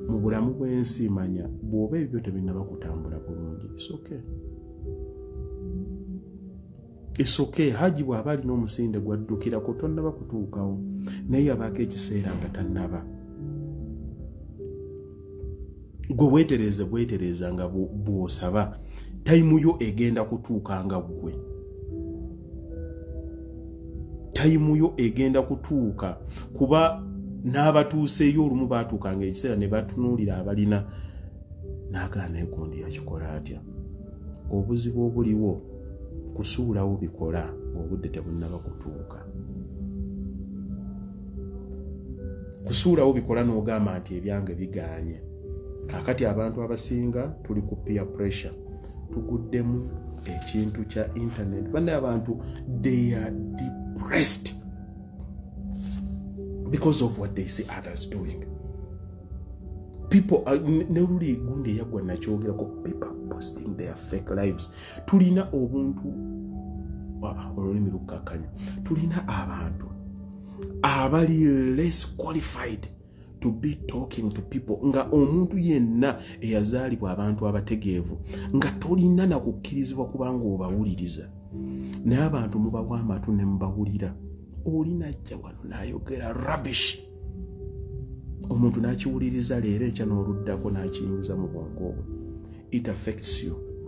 mu bulamu bw'ensi manya bw'oba ebyo tebinaba kutambula bulungi isoke isoke haji bw'aba alina omusinde gwaddukirako tonnaba kutuukawo naye yabaako ekiseera nga tannaba gwe weetereeze bwetereeza nga bw'osaba tayimu yo egenda kutuuka nga ggwe tayimu yo egenda kutuuka kuba n'abatuuseeyo olumu baatuukanga ekiseera ne batunuulira abalina n'agaa naye gundi yakikola atya obuzibu obuliwo kusuulawo bikola obudde tebunnaba kutuuka kusuulawo bikola n'ogamba nti ebyange biganye kakati abantu abasinga tuli ku peer pressure tuguddemu ekintu kya internet bane abantu they are depressed because of what they see others doing people uh, neruli gundi eyagwa nakyogerako people posting their fake lives tulina obuntu olulimi lukakanya tulina abantu abali less qualified to be talking to people nga omuntu yenna eyazaalibwa abantu abategeevu nga tolina na kukkirizibwa kubanga obawuliriza naye abantu mubawa amatu ne mubawulira oli najja wano nayogera rubbish omuntu nakiwuliriza leero ekya n'oluddako nakiyingiza mu bwongo obwe it affects you